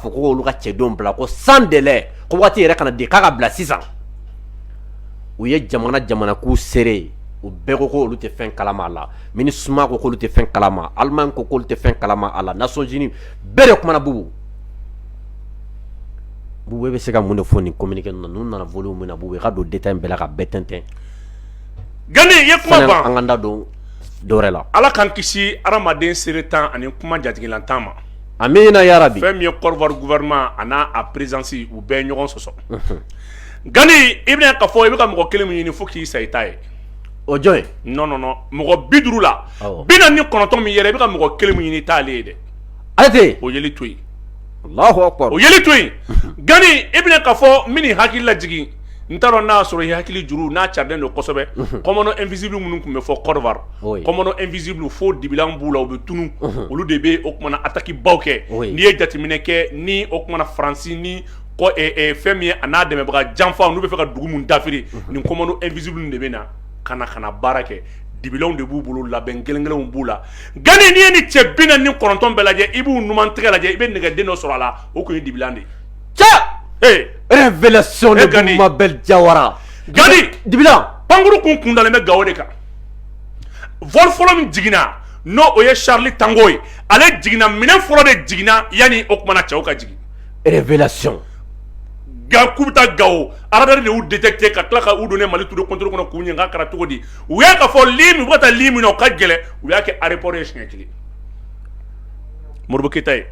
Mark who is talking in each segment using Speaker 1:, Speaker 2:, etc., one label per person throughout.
Speaker 1: Ka fɔ ko k'olu ka cɛdenw bila ko sans délai ko waati yɛrɛ kana di k'a ka bila sisan u ye jamana jamana k'u seere ye u bɛɛ ko k'olu tɛ fɛn kalama a la Minusma ko k'olu tɛ fɛn kalama Allemagne ko k'olu tɛ fɛn kalama a la Nations Unies bɛɛ de kumana bubu bubu e bɛ se ka mun de fɔ nin communiqué ninnu na ninnu nana volume min na bubu i ka don détail bɛɛ la ka bɛɛ
Speaker 2: tɛntɛn Gani i ye kuma ban sani an k'an da don
Speaker 1: dɔwɛrɛ la Ala k'an kisi
Speaker 2: hadamaden seerentan ani kuma jatigilantan ma amiina yarabi
Speaker 1: fɛn min ye Côte d'Ivoire
Speaker 2: gouvernement a n'a a présidence u bɛ ɲɔgɔn sɔsɔ Gani i bɛna ka fɔ i bɛ ka mɔgɔ kelen min ɲini fo k'i sa i t'a ye o jɔn
Speaker 1: non non
Speaker 2: mɔgɔ bi duuru la bi naani ni kɔnɔntɔn min yɛrɛ i bɛ ka mɔgɔ kelen min ɲini i t'ale ye dɛ ale tɛ
Speaker 1: o yeli to
Speaker 2: yen Allahu
Speaker 1: akbar o yeli to
Speaker 2: yen Gani i bɛna ka fɔ min n'i hakili laj n t'a dɔn n'a y'a sɔrɔ i hakili juru n'a carilen don kosɛbɛ commando invisible minnu tun bɛ fɔ Côte d'Ivoire commando invisible fo dibilan b'u la u bɛ tunun olu de bɛ o kuma na attaque baw kɛ n'i ye jateminɛ kɛ ni o kuma na Faransi ni fɛn min ye a n'a dɛmɛbaga janfaw n'u b'a fɛ ka dugu min dafiri nin commando invisible de bɛ na ka na ka na baara kɛ dibilanw de b'u bolo labɛn gɛlɛn gɛlɛnw b'u la Gani n'i ye ni cɛ bi naani ni kɔnɔntɔn bɛɛ lajɛ i b'u numan tɛgɛ lajɛ i bɛ nɛgɛden dɔ sɔrɔ a la o tun ye dibilan de ye
Speaker 1: Révélation de Mabel Diawara
Speaker 2: Gani dibilan
Speaker 1: pankuru kun
Speaker 2: kundalen bɛ gawo de kan vol fɔlɔ min jiginna n' o ye Charlie Tango ye ale jiginna minɛn fɔlɔ de jiginna yanni o tumana cɛw ka jigin révélation k'u bɛ taa Gawo radar de y'u détecté ka tila ka u don Mali tour de contrôle kɔnɔ k'u ɲininka a kɛra cogo di u y'a ye k'a fɔ u bɛ ka taa ligne min na o ka gɛlɛn u y'a kɛ aéroport ye siɲɛ kelen Modibo Keyita ta ye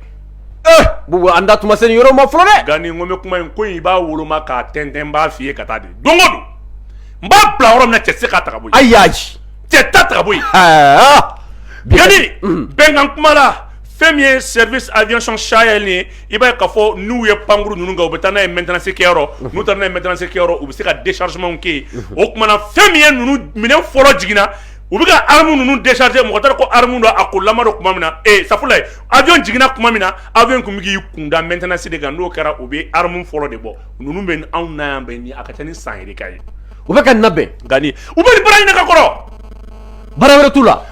Speaker 1: an da tun ma se nin yɔrɔ ma fɔlɔ dɛ Gani n ko n bɛ kuma in
Speaker 2: ko i b'a woloma k'a tɛntɛn n b'a fɔ i ye ka taa de don o don n b'a bila yɔrɔ min cɛ tɛ se k'a ta ka bɔ yen ayi cɛ
Speaker 1: t'a ta
Speaker 2: ka bɔ yen Gani bɛnkan kuma la fɛn min ye service aviation Sahel ye i b'a ye k'a fɔ n'u ye pankuru ninnu kɛ u bɛ taa n'a ye maintenance kɛyɔrɔ n'u taara n'a ye maintenance kɛyɔrɔ u bɛ se ka déchargement kɛ yen o kuma na fɛn min ye ninnu minɛn fɔlɔ jiginna u bɛ ka arme ninnu décharger mɔgɔ t'a dɔn ko arme don a ko lamɔ don tuma min na ee sago ye avion jiginna tuma min na avion tun bɛ k'i kunda maintenance de kan n'o kɛra u bɛ arme fɔlɔ de bɔ ninnu bɛ anw na yan bɛ ni a ka ca ni san yɛrɛ ka ye u bɛ ka nin labɛn
Speaker 1: Gani u bɛ nin baara
Speaker 2: ɲini ka kɔrɔ baara
Speaker 1: wɛrɛ t'u la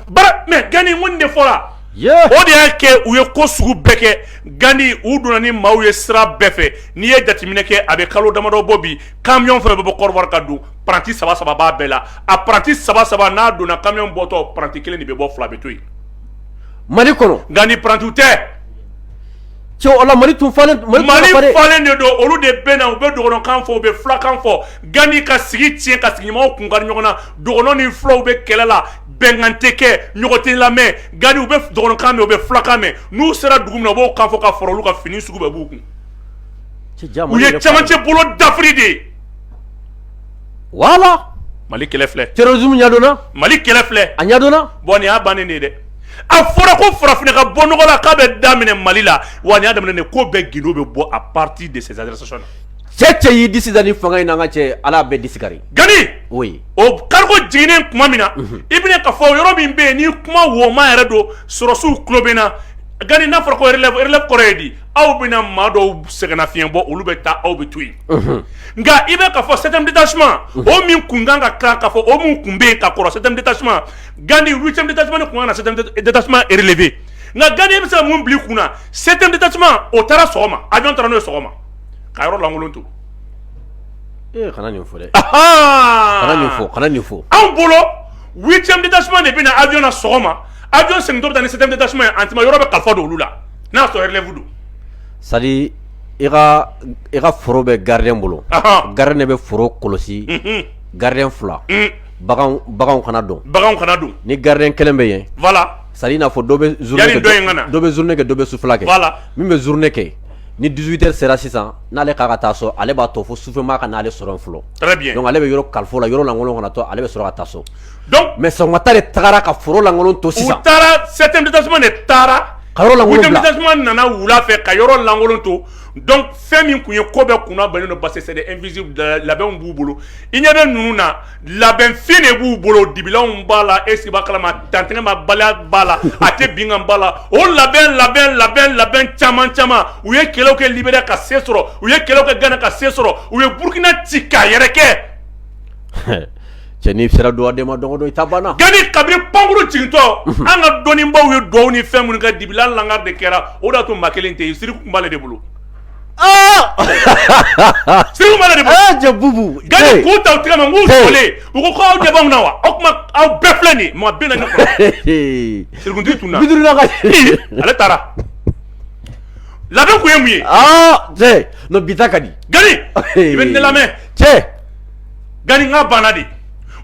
Speaker 1: mais Gani n ko
Speaker 2: nin de fɔra o de
Speaker 1: y'a kɛ u
Speaker 2: ye ko sugu bɛɛ kɛ Gani u donna ni maaw ye sira bɛɛ fɛ n'i ye jateminɛ kɛ a bɛ kalo damadɔ bɔ bi kamiyɔn fɛn bɛ bɔ Côte d'Ivoire ka don paranti saba saba b'a bɛɛ la a paranti saba saba n'a donna kamiyɔn bɔtɔ paranti kelen de bɛ bɔ fila bɛ to yen
Speaker 1: mali kɔnɔ gani parantiw tɛ mali falen
Speaker 2: de don olu de bɛ na u bɛ dɔgɔnɔkan fɔ u bɛ fulakan fɔ gani ka sigi tiɲɛ ka sigiɲɔgɔnw kun kari ɲɔgɔn na dɔgɔnɔ ni fulaw bɛ kɛlɛ la bɛnkan tɛ kɛ ɲɔgɔn tɛ lamɛn gani u bɛ dɔgɔnɔkan mɛn u bɛ fulakan mɛn n'u sera dugu min na u b'o kan fɔ ka fara olu ka fini sugu bɛɛ b'u kun u ye camancɛ bolo dafiri de ye
Speaker 1: wala mali kɛlɛ
Speaker 2: filɛ terrorisme
Speaker 1: ɲɛdɔnna mali kɛlɛ filɛ
Speaker 2: a ɲɛdɔnna bon nin
Speaker 1: y'a bannen de ye
Speaker 2: dɛ a fɔra ko farafinna ka bɔ nɔgɔ la k'a bɛ daminɛ mali la wa nin y'a daminɛ de ko bɛɛ gindo bɛ bɔ à partir de ces adressations là cɛ cɛ y'i disi da
Speaker 1: ni fanga in na an ka cɛ ala bɛɛ disi kari gani
Speaker 2: oui
Speaker 1: o
Speaker 2: cargo jiginnen tuma min na i bɛna ka fɔ yɔrɔ min bɛ yen ni kuma woma yɛrɛ don sɔrɔsiw tulo bɛ na gani n'a fɔra ko relève relève kɔrɔ ye di aw bɛna maa dɔw sɛgɛnna fiɲɛɲɛ bɔ olu bɛ taa aw bɛ to yen nka i bɛ ka fɔ sɛmdi tasuma o min kun kan ka kan ka fɔ o min kun bɛ ka kɔrɔ sɛmdi tasuma gandi wu cɛ tasuma ni kun na tasuma erelefɛ nka gandi bɛ se mun bila kun na sɛmdi tasuma o taara sɔgɔma a dɔn taara n'o sɔgɔma ka yɔrɔ lankolon to
Speaker 1: fɔ fɔ anw bolo
Speaker 2: wu cɛ tasuma de bɛna na a jɔn sɔgɔma a jɔn sɛ bɛ taa ni sɛ tasuma ye a yɔrɔ bɛ ka fɔ don olu la N'a y'a sɔrɔ relève don c'est
Speaker 1: à dire i ka i ka foro bɛ gardien bolo, anhan, gardien de bɛ foro kɔlɔsi, unhun, gardien 2 baganw baganw kana don, baganw kana don, ni gardien 1 bɛ yen, voila, c'est à dire i n'a
Speaker 2: fɔ dɔ
Speaker 1: bɛ journée kɛ, yani dɔ in ka na, dɔ bɛ journée kɛ dɔ bɛ sufɛla kɛ, voila, min bɛ
Speaker 2: journée
Speaker 1: kɛ ni 18 heures sera sisan n'ale k'a ka taa so ale b'a to fo sufɛmaa ka n'ale sɔrɔ yen fɔlɔ, très bien, donc ale bɛ yɔrɔ
Speaker 2: kalif'o la yɔrɔ
Speaker 1: lankolon kana to ale bɛ sɔrɔ ka taa so mais
Speaker 2: sɔgɔmata de
Speaker 1: tagara ka foro lankolon to sisan u taara septième
Speaker 2: détachement taara huitième
Speaker 1: détachement nana
Speaker 2: wula fɛ ka yɔrɔ lankolon to donc fɛn min kun ye ko bɛɛ kun bannen don parce que c'est des invisibles labɛnw b'u bolo i ɲɛ bɛ ninnu na labɛn fin de b'u bolo dibilanw b'a la est-ce que b'a kalama tantɛgɛmabaliya b'a la a tɛ binkan b'a la o labɛn labɛn labɛn labɛn caman caman u ye kɛlɛw kɛ liberiya ka se sɔrɔ u ye kɛlɛw kɛ gana ka se sɔrɔ u ye burukina ci k'a yɛrɛ kɛ cɛ
Speaker 1: n'i sera dugaden ma don o don i ta banna gani kabini
Speaker 2: pankurun jigintɔ an ka dɔnnibaw ye dugawu ni fɛn minnu kɛ dibilan lankari de kɛra o de y'a to maa kelen tɛ yen siriku kun b'ale de bolo siri bubu
Speaker 1: k'u ta u tɛgɛ
Speaker 2: ma k'u fɔlen u ko aw ɲɛ b'anw na wa aw kuma aw bɛɛ filɛ nin maa bɛɛ na sirikutigi tun na ale taara labɛn tun ye mun ye
Speaker 1: bi ka di i bɛ
Speaker 2: ne lamɛn cɛ Gani nka banna de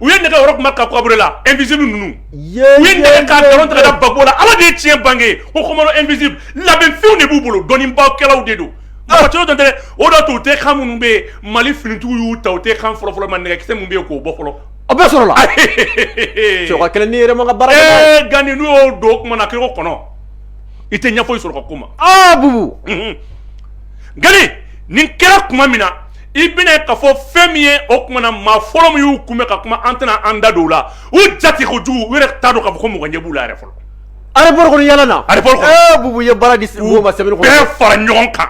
Speaker 2: u ye nin kɛ Roch Marc Kaboré la invisible ninnu u y'a tigɛ Gbagbo la ala de ye tiɲɛ bange o commando invisible labɛnfɛnw de b'u bolo dɔnniba kɛlaw de don tɛ o da u tɛ kan minnu bɛ yen mali finitigiw y'u ta u tɛ kan fɔlɔfɔlɔ ma nɛgɛkisɛ minnu bɛ yen k'o bɔ fɔlɔ a bɛ
Speaker 1: sɔrɔ Gani
Speaker 2: n'u y'o don o kuma na kɔnɔ i tɛna foyi sɔrɔ ka kuma nin kɛra tuma min na i bɛna k'a fɔ fɛn min ye o kuma na maa fɔlɔ min y'u kunbɛn ka kuma an tɛna an da don o la u jate kojugu u yɛrɛ t'a dɔn k'a fɔ ko mɔgɔ ɲɛ b'u la yɛrɛ fɔlɔ aéroport kɔnɔ yala
Speaker 1: na aéroport kɔnɔ bubu ye
Speaker 2: baara
Speaker 1: di mɔgɔw ma sɛbɛn bɛɛ fara ɲɔgɔn
Speaker 2: kan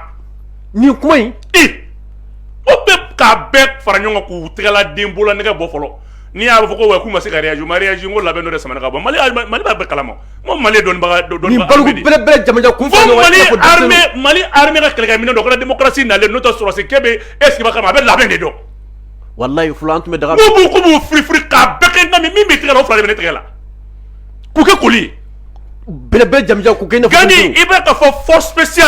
Speaker 2: nin kuma in o bɛ k'a bɛɛ fara ɲɔgɔn kan k'u tɛgɛla den bolo nɛgɛ bɔ fɔlɔ n'i y'a fɔ ko wa k'u ma se ka réagir ma réagir n ko labɛn dɔ de samana ka bɔ mali b'a bɛɛ kalama Ko mali dɔnnibaga dɔ dɔn
Speaker 1: jamanasila ko mali
Speaker 2: hamɛ ka kɛlɛkɛ min dɔrasi nalen n'o sɔrɔsi ke bɛ e sigi kama a bɛ labɛn de dɔn walayi
Speaker 1: tun bɛ daga b' fili
Speaker 2: ka bɛɛ kɛ min bɛ tigɛ fila bɛ tigɛ la k'u kɛ koli bɛɛ bɛ
Speaker 1: jaja i bɛ ka fɔ
Speaker 2: fɔsi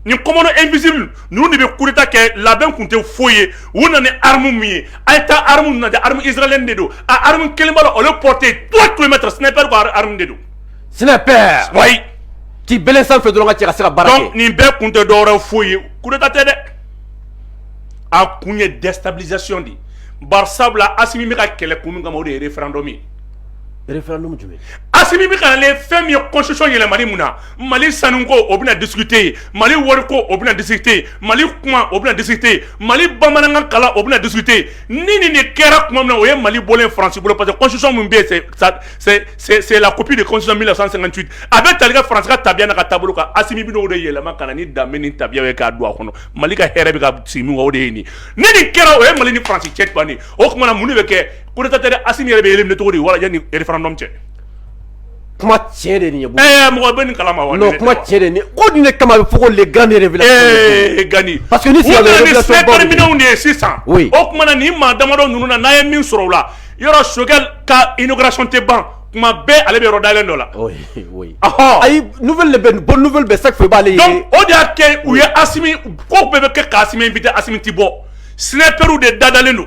Speaker 2: ni kɔn e misi ninnu de bɛ kuruta kɛ labɛn tun tɛ foyi ye u nana aramu min ye a ye taa aramu na aramu izlen de don a aramu kelen la olu pɔte to tun bɛ sinaɛrɛ ko aramu de don sinap k'i bɛn
Speaker 1: sanfɛ fɛ dɔrɔn cɛ ka se ka baara nin bɛɛ kun tɛ dɔw
Speaker 2: foyi ye kuruta tɛ dɛ a kun ye dɛsɛsa de ye ba sabula a min bɛ ka kɛlɛ kun min kama o de ye yɛrɛ fdɔ min
Speaker 1: référendum jumɛn Asimi bɛ ka na
Speaker 2: ni fɛn min ye constitution yɛlɛmani mun na Mali sanuko o bɛna discuter yen Mali wariko o bɛna discuter yen Mali kuma o bɛna discuter yen Mali bamanankan kalan o bɛna discuter yen ni nin de kɛra tuma min na o ye Mali bɔlen ye France bolo parce que constitution min bɛ yen c'est c'est c'est la copie de constitution de 1958 a bɛ tali kɛ France ka tabiya n'a ka taabolo kan Asimi bɛ n'o de yɛlɛma ka na ni danbe ni tabiyaw ye k'a don a kɔnɔ Mali ka hɛrɛ bɛ ka sigi min kan o de ye nin ye ni nin kɛra o ye Mali ni France cɛ bannen ye o tuma na mun de bɛ kɛ coup d'état tɛ Asimi yɛrɛ bɛ éliminer cogo di wala yanni referendum cɛ
Speaker 1: kuma tiɲɛ de nin ye ɛɛ mɔgɔ bɛ nin kalama
Speaker 2: wa non kuma tiɲɛ de nin
Speaker 1: ko nin de kama a bɛ fɔ ko les grandes révélations Gani parce que ni sisan
Speaker 2: bɛ ni
Speaker 1: sniper minɛnw de ye
Speaker 2: sisan oui o tuma na nin maa damadɔ ninnu na n'a ye min sɔrɔ o la yɔrɔ Choguel ka inauguration tɛ ban kuma bɛɛ ale bɛ yɔrɔ dayɛlɛn dɔ la oui oui
Speaker 1: ɔhɔn ayi nouvelle de bɛ bonne nouvelle bɛ chaque fois i b'ale ye donc o de y'a kɛ
Speaker 2: u ye asimi ko bɛɛ bɛ kɛ ka asimi inviter asimi ti bɔ snipers de dadalen don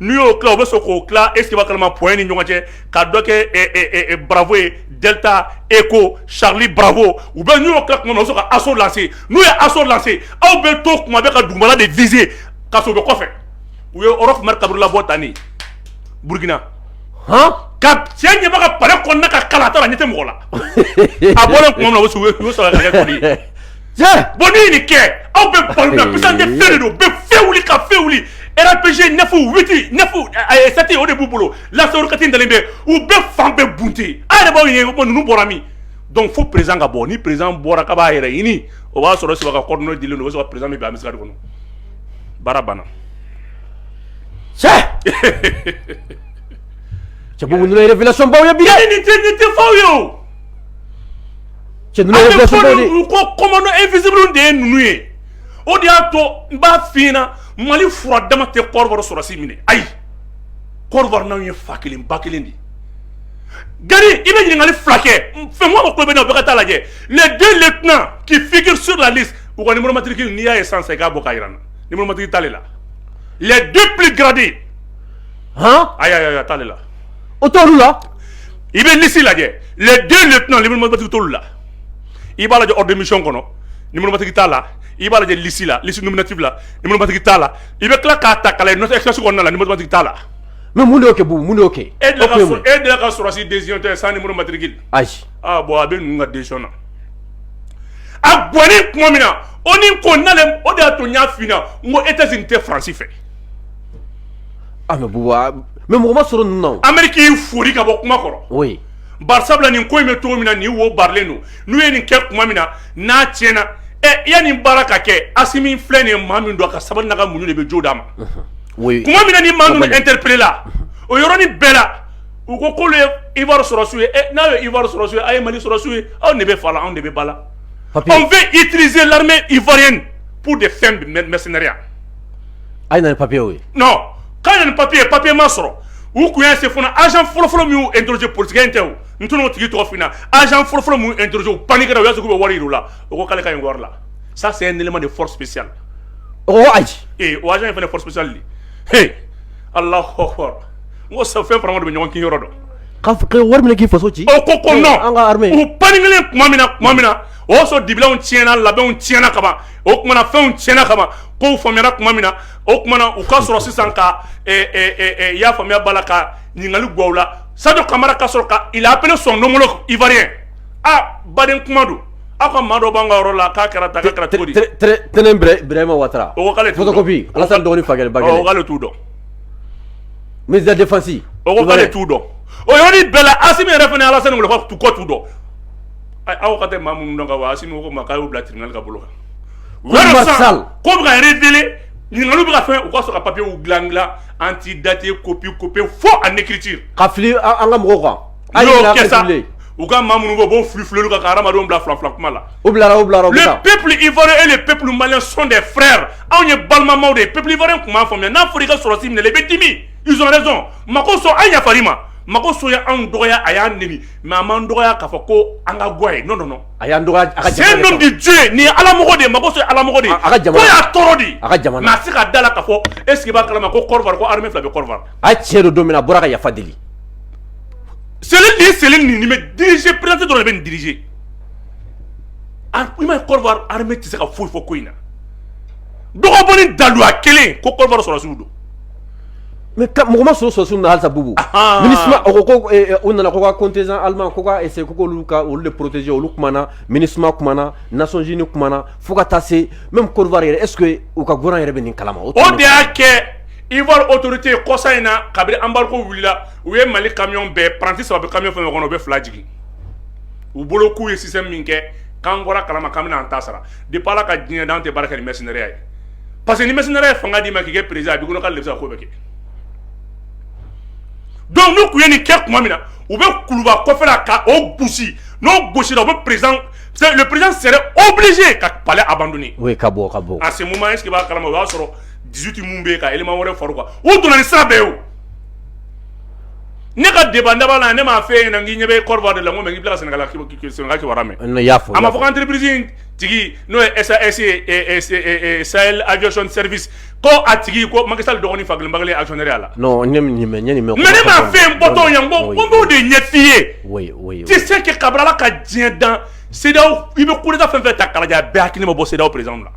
Speaker 2: n'u y'o tila u bɛ sɔn k'o tila est ce que i b'a kalama point ni ɲɔgɔn cɛ ka dɔ kɛ bravo ye delta echo charlie bravo u bɛ n'u y'o tila tuma min na u bɛ sɔn ka assaut lancer n'u ye assaut lancer aw bɛ to kuma bɛɛ ka dugumana de viser ka sɔrɔ u bɛ kɔfɛ u ye Roch Marc Kaboré labɔ tan de Burkina han ka cɛ ɲɛba ka palais kɔnɔna ka kalan a taara a ɲɛ tɛ mɔgɔ la a bɔlen tuma min na u y'o sɔrɔ ka kɛ koli ye bon n'i ye nin kɛ aw bɛ balo la puissance de feu de don bɛ fɛn wuli ka fɛn wuli rpg neuf huit neuf sept o de b'u bolo lanceur roquette dalen bɛ u bɛ fan bɛɛ bunte a yɛrɛ b'aw ye ko ninnu bɔra min donc fo président ka bɔ ni président bɔra k'a b'a yɛrɛ ɲini o b'a sɔrɔ cɛba ka coordonnées dilen don o bɛ sɔrɔ président bɛ bin embuscade kɔnɔ baara banna
Speaker 1: cɛ cɛ bɔn ninnu révélation baw ye bi dɛ nin tɛ nin tɛ faux ye
Speaker 2: o
Speaker 1: Cɛ ninnu ye révélation baw de ye. An bɛ fɔ ko
Speaker 2: commando invisible de ye ninnu ye, o de y'a to n b'a f'i ɲɛna Mali fura dama tɛ Côte d'Ivoire sɔrɔdasi minɛ ayi, Côte d'Ivoire n'anw ye fa kelen ba kelen de ye. Gari i bɛ ɲininkali fila kɛ Fɛnkuma ka tulo bɛ ne na o bɛɛ ka taa lajɛ les deux lieutenants qui figurent sur la liste u ka numéro matricule n'i y'a ye sisan sisan i k'a bɔ k'a jira n na numéro matricule t'ale la les deux plus gradés
Speaker 1: hɔn ayi
Speaker 2: ayi ayi a t'ale la o
Speaker 1: t'olu
Speaker 2: la i bɛ lisi lajɛ les deux lieutenants numéro matricule t'olu la i b'a lajɛ ordre de mission kɔnɔ numéro matricule t'a la i b'a lajɛ lisi la lisi nominative la numéro matricule t'a la i bɛ tila k'a ta k'a lajɛ note express kɔnɔna la numéro matricule t'a la mais mun de y'o
Speaker 1: kɛ Bouba mun de y'o kɛ e delila ka sɔrɔ
Speaker 2: e delila ka sɔrɔsi décision ye sans numéro matricule ayi ah bon a bɛ ninnu ka décision na a bɔnnen tuma min na ONU ko n'ale o de y'a to n y'a f'i ɲɛna n ko États-Unis tɛ France fɛ
Speaker 1: Ah, mais Bouba, mais mɔgɔ ma sɔrɔ ninnu na o. Amérique y'i fori ka bɔ
Speaker 2: kuma kɔrɔ. Oui.
Speaker 1: Bari sabula nin
Speaker 2: ko in bɛ cogo min na nin wo barilen don n'u ye nin kɛ tuma min na n'a tiɲɛna ɛ i ya nin baara ka kɛ Asimi filɛ nin ye maa min don a ka sabali n'a ka muɲu de bɛ jo d'a ma. Oui. Tuma
Speaker 1: min na ni maa ninnu
Speaker 2: interpeller la o yɔrɔnin bɛɛ la u ko k'olu ye Ivoire sɔrɔsiw ye ɛ n'a ye Ivoire sɔrɔsiw ye a ye Mali sɔrɔsiw ye aw ne bɛ fa la anw de bɛ ba la. On veut utiliser l'armée ivoirienne pour des fins de mercenariat.
Speaker 1: a ye na ni papiye ye non k'a ye na
Speaker 2: ni papiye papiye ma sɔrɔ u kun y'a se fana agent fɔlɔfɔlɔ min y'u interroger politicien tɛ o n tɛn'o tigi tɔgɔ f'i ɲɛna agent fɔlɔfɔlɔ min y'u interroger u paniquera u y'a sɔrɔ k'u bɛ wari yir'u la o ko k'ale ka ɲi wari la ça c'est un élément de force spéciale o ko
Speaker 1: ayi ee o agent in fana
Speaker 2: force spéciale de he Allahu akbar n ko sa fɛn farama de bɛ ɲɔgɔn kin yɔrɔ dɔn ka f- ka wari
Speaker 1: minɛ k'i faso ci o ko ko Ee, an ka non
Speaker 2: armée u
Speaker 1: paniquelen tuma
Speaker 2: min na tuma min na o y'a sɔrɔ dibilanw tiɲɛna labɛnw tiɲɛna kaban o tumaumana fɛnw tiɲɛna kama ko faamuyayana tuma min na o tumaumana u ka sɔrɔ sisan ka y'a faamuyaya bala la ka ɲininkali gaw la sadu kamara ka sɔrɔ ka ap sɔn donkolon ifa aa baden kuma don aw ka maa dɔ b'an ka yɔrɔ la k'a kɛra ta kɛra cogo tɛnɛnbrɛma
Speaker 1: wa k'ale
Speaker 2: dɔgɔnin
Speaker 1: k'ale t'u dɔn mizadifasi k'ale t'u dɔn
Speaker 2: o yɔrɔ bɛɛ la a min yɛrɛ fana ala kɔ t'u dɔn aw ka tɛ maa minnu dɔn ka wa Asimi ko ma k'a'u bila tribunal ka bolo kan u
Speaker 1: sa ko bɛ ka
Speaker 2: révéler ɲininkali bɛ ka fɛ u ka sɔrɔ ka papiyew dilan dilan antidaté copie copie faux en écriture ka fili an ka mɔgɔw
Speaker 1: kan a y'o kɛ sa
Speaker 2: u ka maa minnu bɔ b'o fili fili kan ka hadamadenw bila fila fila kuma la u bila u
Speaker 1: bila le
Speaker 2: peuple ivoirien et le peuple malien sont des frères anw ye balimama de ye peuple ivoirien tun m'a faamuya n'a fɔra i ka sɔrɔdasi minɛ i bɛ dimi ils ont raison Makosso an yafara i ma Makosso ye anw dɔgɔya a y'an mɛ an man dɔgɔya k'a fɔ ko an ka ga ye n nɔ a y'an dɔgɔ
Speaker 1: di jo ye
Speaker 2: nin ala de mako sɔrɔ ala de a ka y'a tɔɔrɔ di a ka jamana a se ka da la ka fɔ e sigiba kalama ko ko fila bɛ kɔrɔ a cɛ don don min a
Speaker 1: bɔra ka yafa deli seli ni
Speaker 2: seli nin bɛ diriz perete dɔrɔn de bɛ nin diriz i ma kɔrɔ hame tɛ se ka foyi fɔ ko in na dɔgɔ daluya kelen ko kɔrɔ sɔrɔsiw don
Speaker 1: mais mɔgɔ ma sɔrɔ sɔrɔdasiw na halisa bubu mini ko u nana ko ka contingent allemand ko ka essayer ko olu ka olu de protéger olu kumana MINUSMA kumana Nations Unies kumana fo ka taa se même Côte d'Ivoire yɛrɛ est-ce que u ka gouvernement yɛrɛ bɛ nin kalama o de y'a
Speaker 2: kɛ Ivoire autorité kɔsa in na kabini embargo wulila u ye mali camion bɛɛ apprenti saba bɛ camion fɛn kɔnɔ u bɛ fila jigin u bolo k'u ye système min kɛ k'an bɔra kalama k'an bɛna an ta sara depuis Ala ka diɲɛ dan tɛ baara kɛ ni mercenaire ye parce que ni mercenaire ye fanga d'i ma k'i kɛ président a b'i kɔnɔ k'ale de bɛ se ka ko bɛɛ kɛ donc n'u tun ye nin kɛ tuma min na u bɛ kuluba kɔfɛla ka o gosi n'o gosira u bɛ président le président serait obligé ka palais abandonner oui ka bɔ ka bɔ
Speaker 1: à ce moment est-ce que i
Speaker 2: b'a kalama o y'a sɔrɔ 18 min bɛ yen ka élément wɛrɛ far'u kan u donna ni sira bɛɛ ye o ne ka débat laban na ne m'a f'e ɲɛna n k'i ɲɛ bɛ Côte d'Ivoire de la n ko mais n k'i bɛ tila ka Sénégal Sénégal kibaruya mɛn, n y'a fɔ, a ma fɔ ko
Speaker 1: entreprise in
Speaker 2: tigi n'o ye sa ese sa ajson serisi ko a tigi ko maka sa dɔgɔnin fa kelen bakarijan asɔn la
Speaker 1: ne ma
Speaker 2: fɛn bɔtɔ yan ko ko de ɲɛ'i ye tɛ se
Speaker 1: ka kabilala
Speaker 2: ka diɲɛ dan se i bɛ koda fɛn fɛ ta kalajɛ bɛɛ hakili ma bɔ sew perez la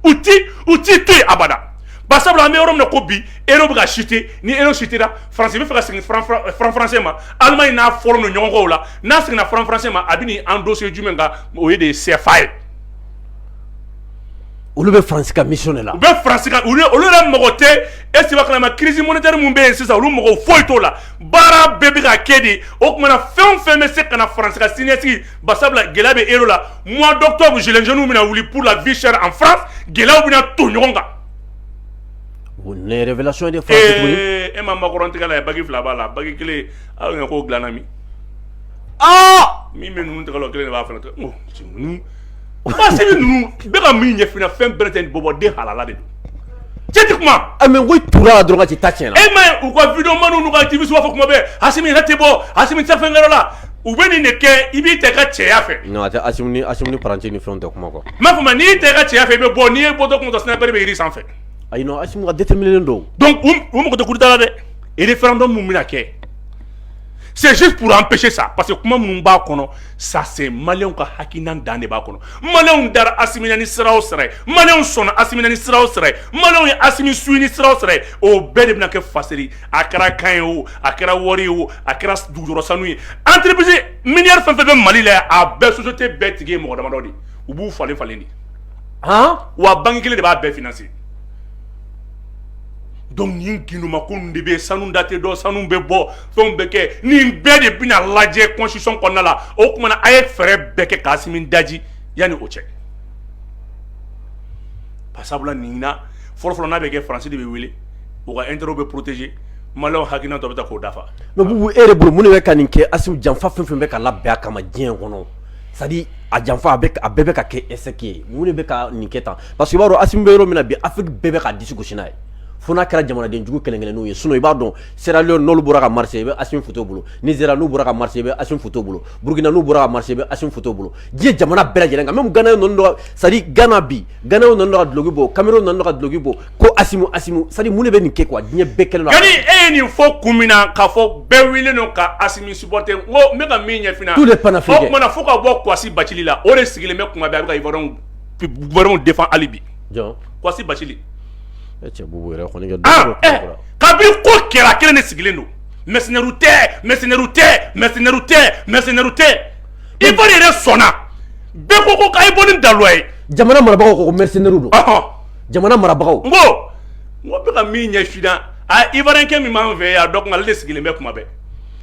Speaker 2: u u t'i to abada ba sabula an bɛ yɔrɔ min ko bi e bɛ ka site ni e sutira farasi bɛ fɛ ka segin farafaransɛ ma ala in n'a fɔlɔ don ɲɔgɔnw la n'a seginna franc français ma a bɛ nin endosser jumɛn kan o ye de CFA
Speaker 1: ye. olu bɛ France ka mission de la. u bɛ France ka olu
Speaker 2: olu yɛrɛ mago tɛ est-ce que i b'a kalama crise monétaire min bɛ yen sisan olu mago foyi t'o la baara bɛɛ bɛ ka kɛ di o tuma na fɛn o fɛn bɛ se ka na France ka siniɲɛsigi barisabula gɛlɛya bɛ euro la mois d'octobre gilets jaunes bɛna wuli pour la vie chère en France gɛlɛyaw bɛna ton ɲɔgɔn kan.
Speaker 1: o ye révélation ye dɛ. ee e ma Macron tigɛ
Speaker 2: lajɛ bague fila b'a la bague kelen Aw ɲɛ ko dilana min min bɛ ninnu tɔgɔ kelen de b'a fana parce que ninnu bɛ ka min ɲɛfin fɛn bɛɛ tɛ bɔbɔ den halala de don cɛ tɛ kuma
Speaker 1: tora dɔrɔn ci ta cɛn e ma u ka vidéomanw
Speaker 2: n'u ka activistew b'a fɔ kuma bɛɛ asimi yɛrɛ tɛ bɔ asimi fɛn la u bɛ nin de kɛ i b'i tɛ ka cɛya
Speaker 1: fɛ pati ni fɛn tɛ kuma quoi ma tun n'i tɛ ka
Speaker 2: cɛya fɛ i bɛ bɔ n'i ye bɔ tun sniper bɛ jiri sanfɛ a ka
Speaker 1: don don
Speaker 2: u mɔgɔ tɛ kuruda dɛ référendum min
Speaker 1: bɛna
Speaker 2: kɛ c'est juste pour empêcher ça parce que kuma minnu b'a kɔnɔ ça c'est malienw ka hakilina dan de b'a kɔnɔ malienw dara asimi na ni sira o sɛrɛ malienw sɔnna asimi na ni sira o sɛrɛ malienw ye asimi sugandi sira o sɛrɛ o bɛɛ de bɛna kɛ faseri a kɛra kan ye o a kɛra wari ye o a kɛra dugujukɔrɔ sanu ye entreprise minière fɛn fɛn bɛ mali la a bɛɛ société bɛɛ tigi ye mɔgɔ damadɔ de u b'u falen falen de
Speaker 1: wa banki kelen de
Speaker 2: b'a bɛɛ financer donc nin ginduma ko de bɛ sanu date dɔ sanu bɛ bɔ fɛnw bɛ kɛ nin bɛɛ de bɛna lajɛ constitution kɔnɔna la o kuma na a ye fɛɛrɛ bɛɛ kɛ k'asimi daji yanni o cɛ pasabula nin na fɔlɔfɔlɔ n'a bɛ kɛ faransi de bɛ wele u ka intérêt bɛ protéger malienw hakilina dɔ bɛ ta k'o dafa mais bubu e yɛrɛ bolo
Speaker 1: mun de bɛ ka nin kɛ asimi janfa fɛn fɛn bɛ ka labɛn a kama diɲɛ kɔnɔ sa a janfa a a bɛɛ bɛ ka kɛ eseki ye mun de bɛ ka nin kɛ tan pa que b'a dɔn a bɛ yɔrɔ min bi a bɛɛ bɛ ka disikusiina ye f n'a kɛra jamanadenjugu kelenkelen n'u ye sun i b'a dɔn sera n'olu bɔra ka mari i bɛ a fu bolo ni sera n'u bɔra ka mari i bɛ a fu bolo burukina n'u bɔra ka mari i bɛ a fu bolo diɲɛ jamana bɛɛ lajɛlen ka min gana sa gana bi gw nana dɔgɔ duloki bɔ kamalenw nana dɔgɔ duloki bɔ ko sari mun bɛ nin kɛ kuwa diɲɛ bɛɛ kelen e ye nin fɔ
Speaker 2: kun min na ka fɔ bɛɛ wele don ka a sɔt n ka min ɲɛfin tu de pan fo tumaumana
Speaker 1: fo ka bɔ
Speaker 2: gasi ba la o de sigilen bɛ kuma bɛ bɛw de hali bi gasi ba ka bi ko kɛra kelen de sigilen don mɛsɛnri tɛ mɛsɛnri tɛ mɛsɛnri tɛ mɛsɛnri tɛ i yɛrɛ sɔnna bɛɛ ko ko ka i bɔ ni dawa ye jamana marabagaw ko
Speaker 1: mɛsɛnri don jamana marabagaw n
Speaker 2: ko n ko bɛ ka min ɲɛfin a ivoirien kɛ min b'an fɛ y'a dɔn ale de sigilen bɛ kuma bɛɛ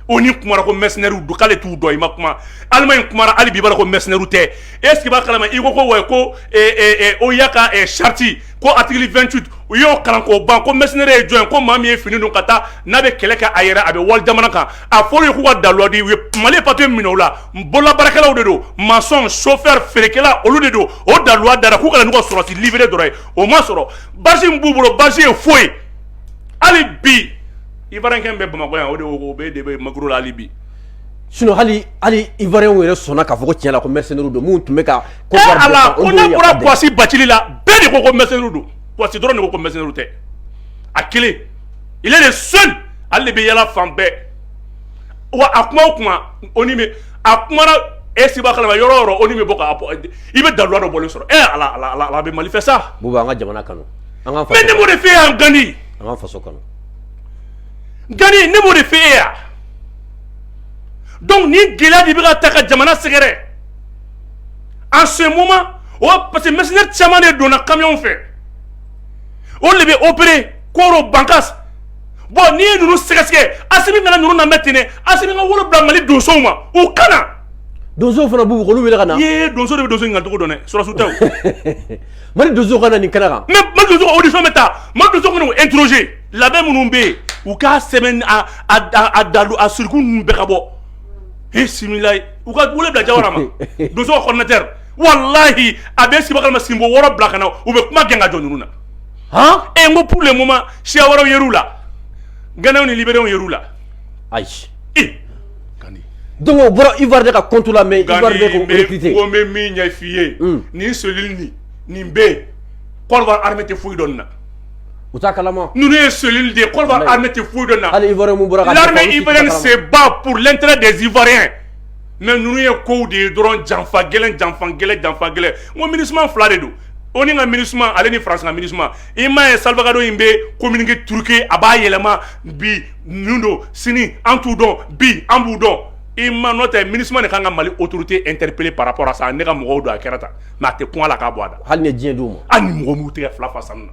Speaker 2: ONU kumara ko mercenairew don k'ale t'u dɔn i ma kuma allemagne kumara hali bi a ko mercenairew tɛ est-ce que i b'a kalama i ko ko wa ko OUA ka charte ko article vingt-huit u y'o kalan k'o ban ko mercenaire ye jɔn ye ko maa min ye fini don ka taa n'a bɛ kɛlɛ kɛ a yɛrɛ a bɛ wali jamana kan a fɔra u ye k'u ka daluya di u ye mali papiye minɛ o la bololabaarakɛlaw de don masɔn sofɛ feerekɛla olu de don o daluwa dara k'u ka na n'u ka sɔrɔsi livrer dɔrɔn ye o ma sɔrɔ basi min b'u bolo basi ye foyi hali bi ivoirien kɛ bɛ bamakɔ yan o de o bɛ de bɛ makuru la hali bi sinon hali
Speaker 1: hali ivoiriens yɛrɛ sɔnna k'a fɔ ko tiɲɛ la ko mercenaires don minnu tun bɛ ka ko eh, ala ko
Speaker 2: n'a bɔra kwasi bacili la bɛɛ de ko ko mercenaires don kwasi dɔrɔn de ko ko mercenaires tɛ a kelen il est le seul ale de bɛ yala fan bɛɛ wa a kuma o kuma o ni bɛ a kuma e sibakalama yɔrɔ o yɔrɔ o ni bɛ bɔ ka i bɛ daluwa dɔ bɔlen sɔrɔ e ala bɛ mali fɛ sa buba an ka jamana kanu
Speaker 1: an ka mais ne m'o de fɛ yan gani
Speaker 2: an ka faso kanu gani ne m'o de fɛ e yan donc ni gɛlɛya de bɛ ka taa ka jamana sɛgɛrɛ en ce moment o parce que mercenaires caman de donna camion fɛ olu de bɛ opérer koro bankas bon n'i ye ninnu sɛgɛsɛgɛ asimi kana ninnu lamɛn ten dɛ asimi ka wele bila mali donsow ma u ka na donso
Speaker 1: fana b'u olu wele ka na ye donso de bɛ donso ɲininka
Speaker 2: cogo dɔn dɛ sɔrɔsi tɛ o mali donso ka na
Speaker 1: nin kɛnɛ kan mais mali donso ka audition bɛ
Speaker 2: taa mali donso ka na u interroger labɛn minnu bɛ yen u k'a sɛbɛn a a a daluwa siriku ninnu bɛɛ ka bɔ bisimilayi u ka wele bila jawara ma donso ka coordinateur walahi a bɛ sibakalama sinbo wɔɔrɔ bila ka na u bɛ kuma gɛn ka jɔ ninnu na e n ko pur le moma siya wɛrɛw ye la gɛnɛw ni libw ye la ayi don o bɔra
Speaker 1: ifa de ka kotu la mɛ ko bɛ min ɲɛ f'i
Speaker 2: ye hmm. nin soli nin nin bɛ yen kɔrɔ hame tɛ foyi dɔn na u taa kala
Speaker 1: ninnu ye soli de ye
Speaker 2: kɔrɔ hame tɛ foyi dɔn na hali i bɔra
Speaker 1: seba
Speaker 2: pur lɛnte de zifarin mɛ ninnu ye ko de ye dɔrɔn janfa gɛlɛn janfa gɛlɛn janfa gɛlɛn ko mini fila de don onu ka minusma ale ni france ka minusma i m'a ye salgado in bɛ communiqué truqué a b'a yɛlɛma bi ninnu don sini an t'u dɔn bi an b'u dɔn i ma n'o tɛ minusma de ka kan ka mali autorité interpeller par rapport à ça ne ka mɔgɔw don a
Speaker 1: kɛra
Speaker 2: tan mais a tɛ kun a la k'a bɔ a da hali diɲɛ d'u ma hali ni mɔgɔw m'u tɛgɛ fila fa sanu na